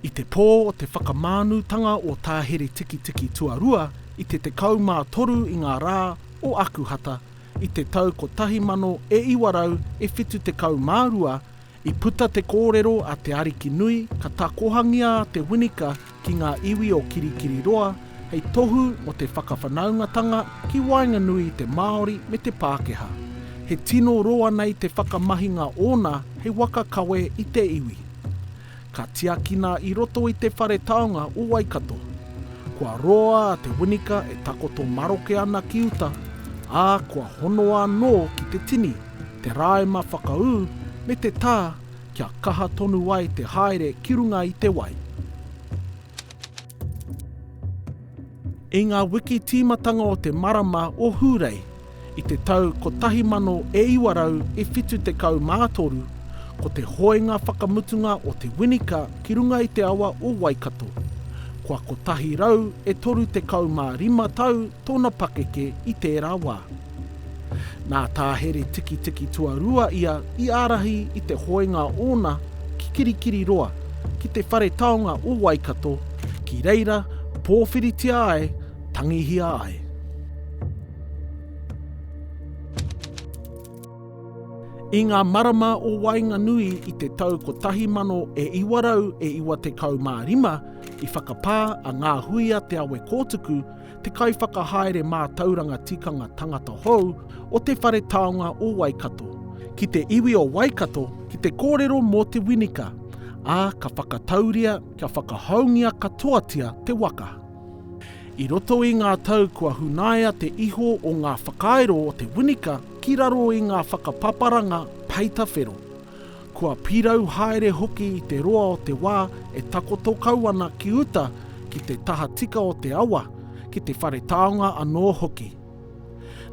I te pō o te whakamānutanga o Tā Heretikitiki Tuarua i te 13 i ngā rā o Akuhata i te tau 1972 I puta te kōrero a Te Arikinui ka takohangia a Te Winika ki ngā iwi o Kirikiriroa hei tohu mō te whakawhanaungatanga ki waenganui i te Māori me te Pākehā. He tino roa nei te whakamahinga ōna hei waka kawe i te iwi. Ka tiakina i roto i te whare taonga o Waikato. Kua roa a Te Winika e takoto maroke ana ki uta, ā, kua honoa anō ki te tini. te rāema whakaū me te tā kia kaha tonu ai te haere ki runga i te wai. I ngā wiki tīmatanga o te marama o Hūrei i te tau 1973, ko te hoenga whakamutunga o Te Winika ki runga i te awa o Waikato. Kua 135 tau tōna pakeke i tērā wā. Nā Tā Here Tikitiki Tuarua ia i ārahi i te hoenga ōna ki Kirikiriroa, ki te whare taonga o Waikato, ki reira pōwhiritia ai, tangihia ai. I ngā marama o waenganui i te tau 1995, i whakapā a Ngā Hui a Te Awe Kōtuku, te kaiwhakahaere mātauranga tikanga tangata hou o Te Whare Taonga o Waikato, ki te iwi o Waikato ki te kōrero mō Te Winika, ā, ka whakatauria kia whakahoungia katoatia te waka. I roto i ngā tau kua hunaia te iho o ngā whakairo o Te Winika ki raro i ngā whakapaparanga peita whero, Kua pirau haere hoki i te roa o te wā e takoto kau ana ki uta ki te tahatika o te awa, ki te whare taonga anō hoki.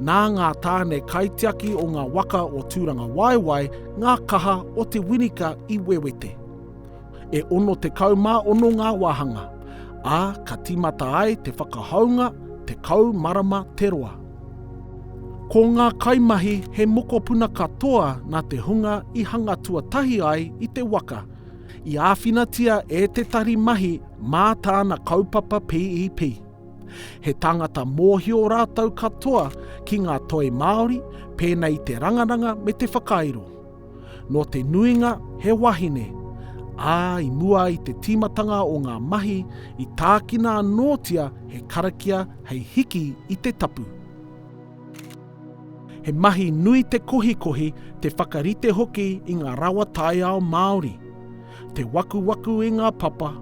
Nā ngā tāne kaitiaki o ngā waka o Tūrangawaewae ngā kaha o te winika i wewete. E 66 ngā wāhanga, ā, ka tīmata ai te whakahounga 10 marama te roa. Ko ngā kaimahi he mokopuna katoa nā te hunga i hanga tuatahi ai i te waka, i āwhinatia e Te Tari Mahi mā tāna kaupapa PEP. He tāngata mōhio rātou katoa ki ngā toi Māori pēnei i te rangaranga me te whakairo. Nō te nuinga he wahine, ā, i mua i te tīmatanga o ngā mahi i tākina anōtia he karakia hei hiki i te tapu. He mahi nui te kohikohi, te whakarite hoki i ngā rawa taiao Māori, te wakuwaku i ngā papa,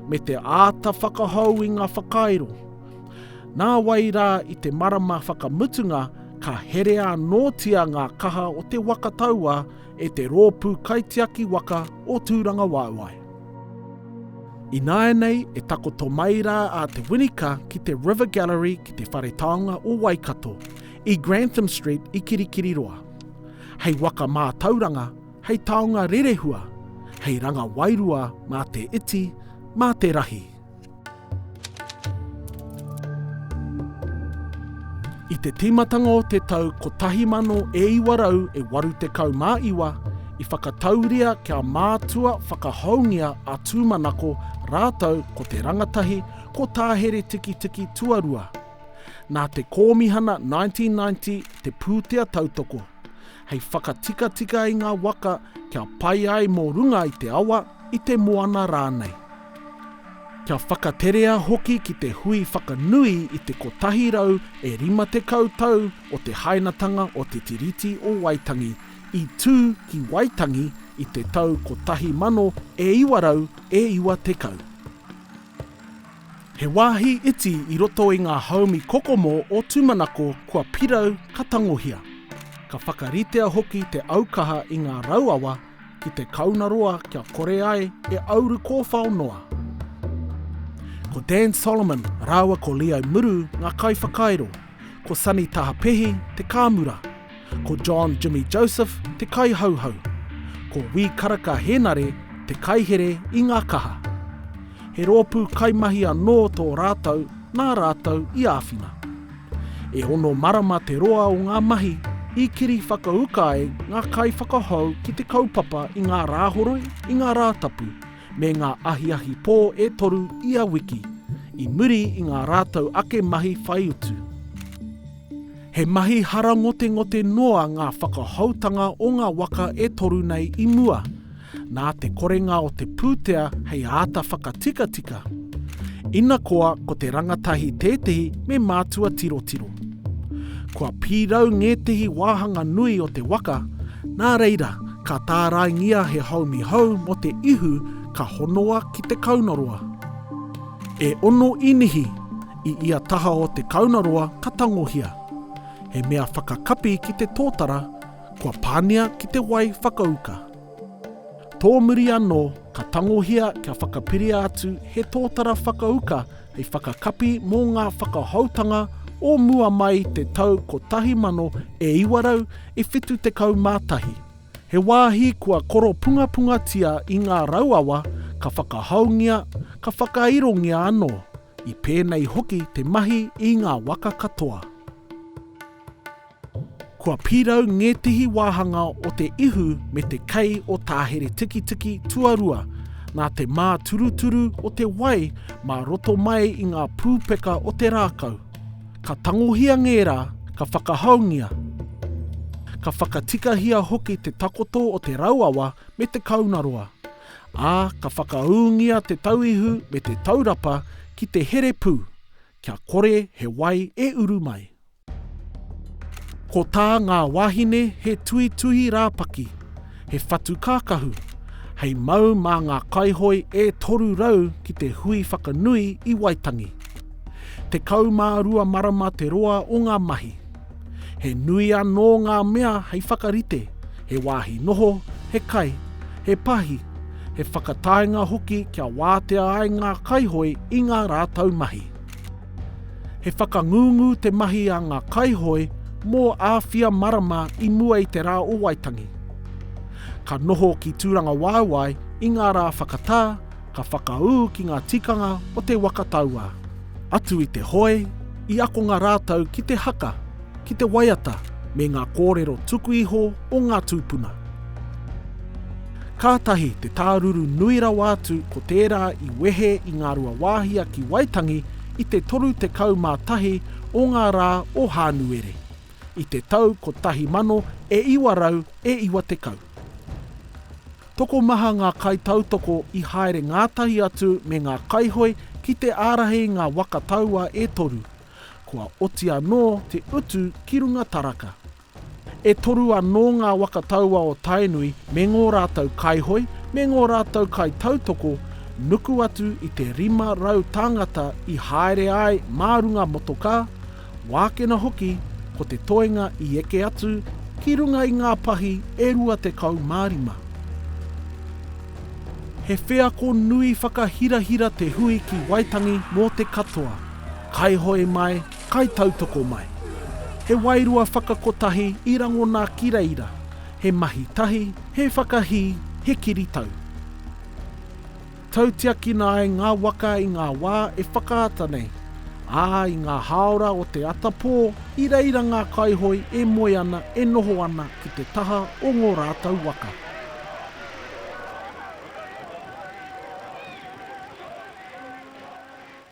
me te āta whakahou i ngā whakairo. Nā wai rā i te marama whakamutunga ka herea anōtia ngā kaha o te waka tauā e te Rōpū Kaitiaki Waka o Tūrangawaewae. Ināianei e takoto mai rā a Te Winika ki te River Gallery ki te Whare Taonga o Waikato, i Grantham Street i Kirikiriroa. Hei waka mātauranga, hei taonga rerehua, hei ranga wairua mā te iti, mā te rahi. I te tīmatanga o te tau 1900 e 89 i whakatauria kia mātua whakahoungia a Tūmanako rātou ko te rangatahi ko Tāheretikitiki Tuarua. Nā te Kōmihana 1990 te pūtea tautoko, hei whakatikatika i ngā waka kia pai ai mō runga i te awa, i te moana rānei. Kia whakaterea hoki ki te hui whakanui i te 150 tau o te hainatanga o Te Tiriti o Waitangi, i tū ki Waitangi i te tau 1990. He wāhi iti i roto i ngā haumi kokomo o tūmanako kua pirau ka tangohia. Ka whakaritea hoki te aukaha i ngā rauawa ki te kaunaroa kia kore ai e auru kōwhao noa. Ko Dan Solomon rāua ko Leo Muru ngā kaiwhakairo, ko Sonny Tahapehi te kāmura, ko John Jimmy Joseph te kaihauhau, ko Wī Karaka Hēnare te kaihere i ngā kaha. He rōpū kaimahi anō tō rātou nā rātou i āwhina. E ono marama te roa o ngā mahi i keri whakauka ai ngā kaiwhakahou ki te kaupapa i ngā Rāhoroi, i ngā Rātapu, me ngā ahiahi pō e toru ia wiki, i muri i ngā rātou ake mahi whai utu. He mahi hara ngotengote noa ngā whakahoutanga o ngā waka e toru nei i mua, nā te korenga o te pūtea hei āta whakatikatika. Ina koa ko te rangatahi tētehi me mātua tirotiro. Kua pīrau ngētehi wāhanga nui o te waka, nā reira ka tāraingia he haumi hou mō te ihu ka honoa ki te kaunoroa. E ono inihi i ia taha o te kaunoroa ka tangohia. He mea whakakapi ki te tōtara, kua pāngia ki te wai whakauka. Tōmuri anō, ka tangohia kia whakapiria atu he tōtara whakauka hei whakakapi mō ngā whakahoutanga o mua mai i te tau 1971. He wāhi kua koropungapungatia i ngā rauawa ka whakahoungia, ka whakairongia anō, i pēnei hoki te mahi i ngā waka katoa. Kua pirau ngētehi wāhanga o te ihu me te kei o Tāheretikitiki tuarua, nā te māturuturu o te wai mā roto mai i ngā pūpeka o te rākau. Ka tangohia ngērā, ka whakahaungia, ka whakatikahia hoki te takoto o te rauawa me te kaunaroa, ā, ka whakaūngia te tauihu me te taurapa ki te here pū, kia kore he wai e uru mai. Ko tā ngā wāhine he tuituhi rāpaki, he whatu kākahu, hei mau mā ngā kaihoe e 300 ki te hui whakanui i Waitangi. Tekau mā rua marama te roa o ngā mahi. He nui anō ngā mea hei whakarite, he wāhi noho, he kai, he pahi, he whakataenga hoki kia wātea ai ngā kaihoe i ngā rātou mahi. He whakangungu te mahi a ngā kaihoe mō āwhia marama i mua i te rā o Waitangi. Ka noho ki Tūrangawaewae i ngā rā whakatā, ka whakaū ki ngā tikanga o te waka tauā. Atu i te hoe, i akonga rātou ki te haka, ki te waiata me ngā kōrero tuku iho o ngā tūpuna. Kātahi te tāruru nui rawa atu ko tērā i wehe i Ngāruawāhia ki Waitangi i te 31 o ngā rā o Hānuere, i te tau 1900 e 90. Tokomaha ngā kaitautoko i haere ngātahi atu me ngā kaihoe ki te ārahi ngā waka taua e toru, kua oti anō te utu ki runga taraka. E toru anō ngā waka taua o Tainui me ngō rātou kaihoe, me ngō rātou kaitautoko, nuku atu i te 500 tāngata i haere ai mā runga motokā, wākena hoki ko te toenga i eke atu ki runga i ngā pahi e 25. He wheako nui whakahirahira te hui ki Waitangi mō te katoa, kaihoe mai, Kai tautoko mai. He wairua whakakotahi i rangona ki reira, he mahi tahi, he whakahī, he kiritau. Tautiakina ai ngā waka i ngā wā e whakaata nei, ā, i ngā hāora o te atapō, i reira ngā kaihoi e moe ana, e noho ana ki te taha o ngō rātou waka.